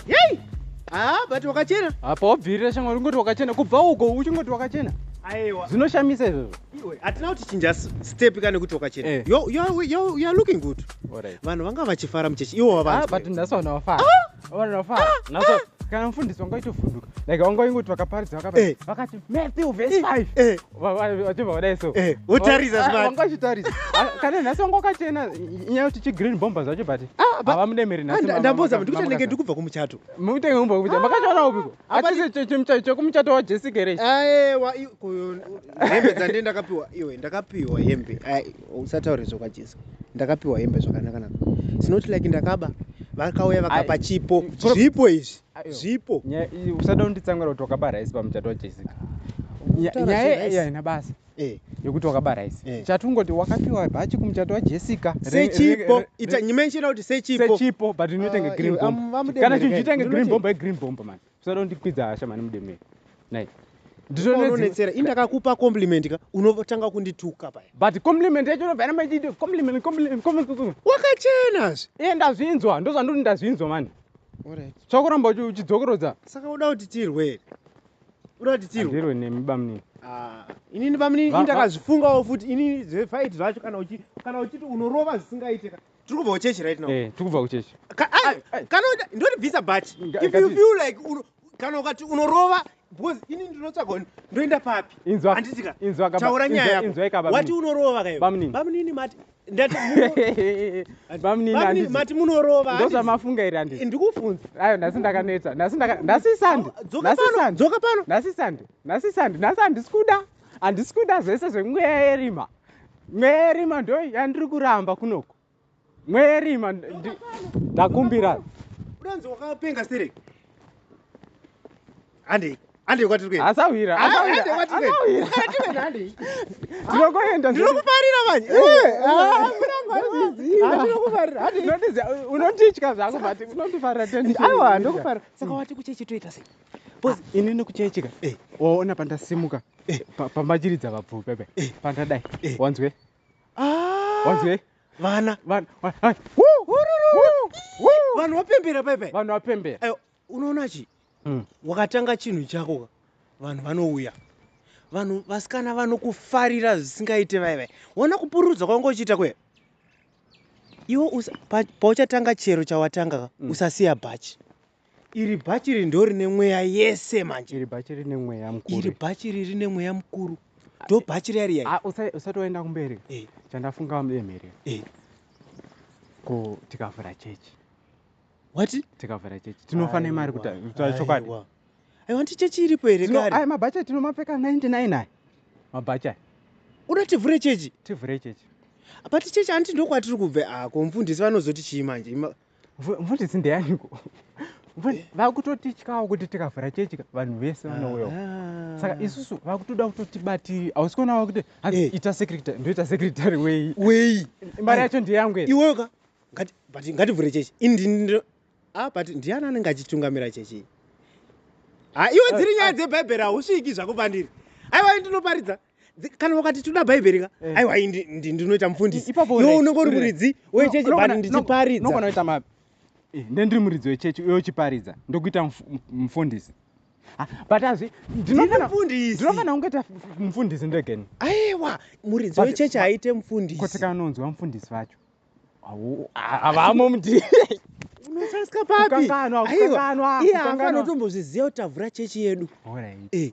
yei haa ah, but wakachena apa wabvirira shamwari ungoti wakachena kubva uko uchingoti wakachena aiwa zvinoshamisa izvozvo iwe hatina kuti chinja step ka nekuti wakachena eh. youare looking good vanhu vanga vachifara muchechi iwo wavanbut ah, nhasi vanhu vafara ah! vanhu vafara ah! kana mufundisi wanga itovhunduka like wanga ingoti vakaparidza vakati eh. matthew vese 5 eh. vachibva vadai so eh, wotarisa zvivanga vachitarisa ah, kana nhasi vanga wakachena nyaya kuti chigreen bomber zvacho but ah, havamudemeri nhasindaboza kuti kutanenge ndi kubva kumuchato mutenge kubva kumuchato ah, makachaona upiko achisi chekumuchato wajessica here aewa hembe dzandie ndakapiwa iwe ndakapiwa hembe usataure zvokwajesi ndakapiwa hembe zvakanaka naka sinoti like ndakaba vakauya vakapa chipo zvipo izvi zvipo nyaya iyi usada kunditsamwira kuti wakaba rice pamuchato wajessica nyaya iyi haina basa eh. yekuti wakaba rice eh. chatungoti wakapiwa bhachi kumuchato wajessica sechipo ita nyimenshina kuti sechipo sechipo but inoitenge ah, green bomb kana chinhu chiitenge green bomb igreen bomb mani usada kundikwidza hasha mani mudemei nai ndizvononetsera indakakupa compliment ka unotanga kundituka paya but compliment yacho unobva namaiti compliment compliment wakachenazve iye ndazvinzwa ndozvandoti ndazvinzwa mani chakuramba uchidzokorodza saka uda kuti tirwe here uda kuti tirwe ndirwe nemi bamnini ah, inini bamnini ini ndakazvifungawo futi inini zvefight zvacho kana uchi kana uchiti unorova zvisingaite ka tiri kubva kuchechi right now eh tiri kubva kuchechi kana ndoti bvisa but if you feel like kana ukati unorova because ini ndinotsvaga ndoenda papi handisika taura nyaya yako wati unorova kayo bamunini mati mati munorova ndozvamafunga here andii ndikufunza ayo nhasi ndakaneta nhasi sande dzoka pano nhasi sande nhasi sande nhasi handisi kuda handisi kuda zvese zvemweya yerima mweya yerima ndo yandiri kuramba kunoko Mweri man ndakumbira. Uranzi wakapenga siri. Andi andi kwati kwe. Asawira. Asawira. Asawira. Tinokoenda. Ndinokuparira manje. Eh, ah, ndinokuparira. Andi unotizya unotitya zvako but unotifarira tendi. Awa ndokuparira. Saka wati kuchechi toita sei? Boss ah, ini nokuchechika. Eh, ona pandasimuka. Eh, pambachiridza vabvupe be. Eh, pandadai. Eh. Wanzwe? Ah! wanzwei vana Van- van- hai, wuu, wuu, wuu. vanhu vapembera paipai vanhu vapembera Ayo, unoona chi Mm. wakatanga chinhu chako ka vanhu vanouya vanhu vasikana vanokufarira zvisingaite vai vai wona kupururudza kwanga uchiita kuya iwe usa- pa- pauchatanga chero chawatanga ka Mm. usasiya bhachi Iri bhachi iri ndorine mweya yese manje. Iri bhachi rine mweya mukuru. Iri bhachi iri rine mweya mukuru. Ndo bhachi riya riya. Ah, usati waenda kumberi. Eh. Chandafunga mudemhere. Eh. Ko tikavhura chechi. What? Tikavhura chechi. Tinofana imari kuti chokwadi. I want chechi iripo here kare. Ayi mabhachi tinomapfeka 99 ayi. Mabhachi ayi. Uda tivhure chechi? Tivhure chechi. But chechi anti ndokwatiri kubve ako ah, mfundisi vanozoti chii manje? mfundisi ndeyaniko eh? vakutotityawo kuti tikavhura chechi vanhu vese vanouyawo ah. saka isusu vakutoda kutotibatiri hausi kuonawo kuti hanzi eh. ita secretary ndoita secretary wei wei mari yacho ndeyangu ere iweyoka but ngativhure chechi indini ah, but ndiani anenge achitungamira chechi ha ah, iwe dziri nyaya dzebhaibheri hausviki zvako pandiri aiwa ndinoparidza Dzi- kana wakati toda bhaibheri ka Eh. aiwa iyi ndi- ndi- ndinoita mufundisi I- ipapo iwe uri- unenge uri uri- muridzi No, wechechi unogona- bani no- ndichiparidza unogona kuita ma Eh, nde ndiri muridzi wechechi uye uchiparidza ndokuita muf- m- mufundisi Ah, but azvi ndiri ndinofana mufundisi ndinofana kunge ta mufundisi ndegeni aiwa muridzi But- wechechi but- aite mufundisi kotsika unonzwa mufundisi vacho Hawu- ha- havamo mudii unosasika papi kukanganwa Aiwa, kukanganwa iye haafana kukanganwa kutombozviziva kuti tavhura chechi yedu Alright. Eh,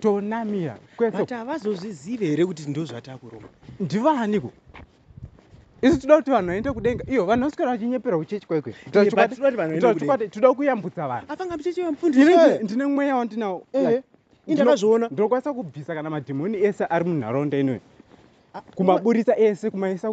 tonamira kwese but havazozvizive here kuti ndozvatakuromba ndivaaniko isu toda kuti vanhu vaende kudenga iyo vanhu vaswera vachinyeperwa kuchechi kwaikwe toda kuyambutsa vanhundine mweya wandinawo eh. ndinazviona ndinokwanisa kubvisa kana madhimoni ese ari munharaunda inoyo ah, kumaburitsa ese kumaisa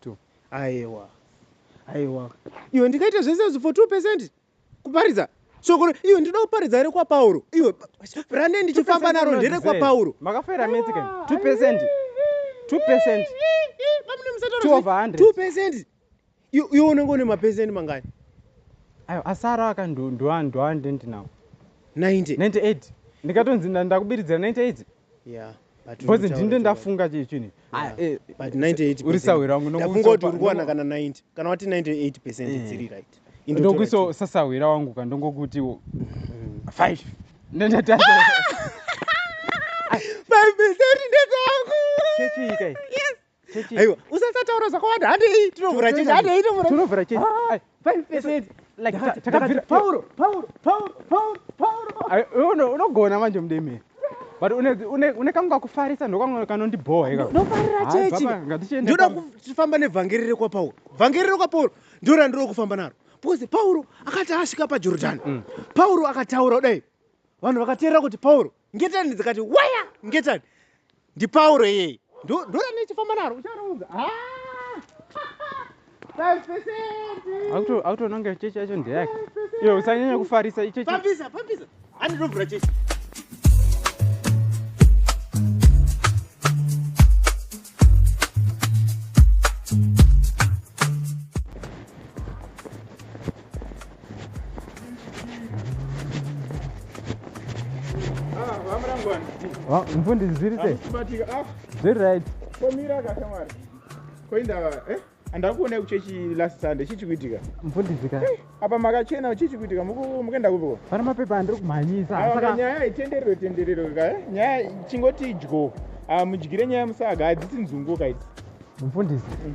two aiwa aiwa iwe ndikaita zvese zvo for two percent kuparidza shoko iwe ndinoda kuparidza here kwapauro iwe rande ndichifamba naro ndere kwapauro makafera mese ka two percent two percent two over hundred two percent iwe unenge une mapesenti mangani ayo asara aka ndoandenti nawo ninety ninety eight ndikatonzi ndakubiridzira ninety eight yeah because ndini ndendafunga chii chinhu eh, eh, uri sahwira wangu ndakungoti uri kuwana kana 90 kana wati 98 percent eh. dziri right ndokuiso sasahwira wangu ka ndongokutiwo mm-hmm. five ndendataa five percent ndekwangu chechiikai yes aiwa usasataura zvakawanda handei tinovhura chechi handei tinovhura chechi ah, unogona manje mudemere but une kangu kakufarisa ndokangu kanondibhowa ikanofarira chechi ndoda kufamba nevhangeri rekwapauro vhangeri rekwapauro ndo randiri kufamba naro because pauro akati asvika pajorodhani mm. pauro akataura kudai vanhu vakateerera kuti pauro ngetani dzikati waya ngetani ndipauro iyeye ndoyanechifamba naro ucharaunza akutoona kunge chechi yacho ndeyake iyo usanyanya kufarisa ichechi pambisa pambisa andinobvura chechi mfundi zviri se zviri right komira kashamwari koindava eh? andakuonai kuchechi last sunday chii chikuitika mfundisika eh, apa makachena chii chikuitika mukuenda kupiko pana mapepa andiri kumhanyisa nyaya itenderero tenderero ka eh? nyaya chingoti idyo ah, mudyire nyaya musaga hadzisi nzungu kaidzi mfundisi mm.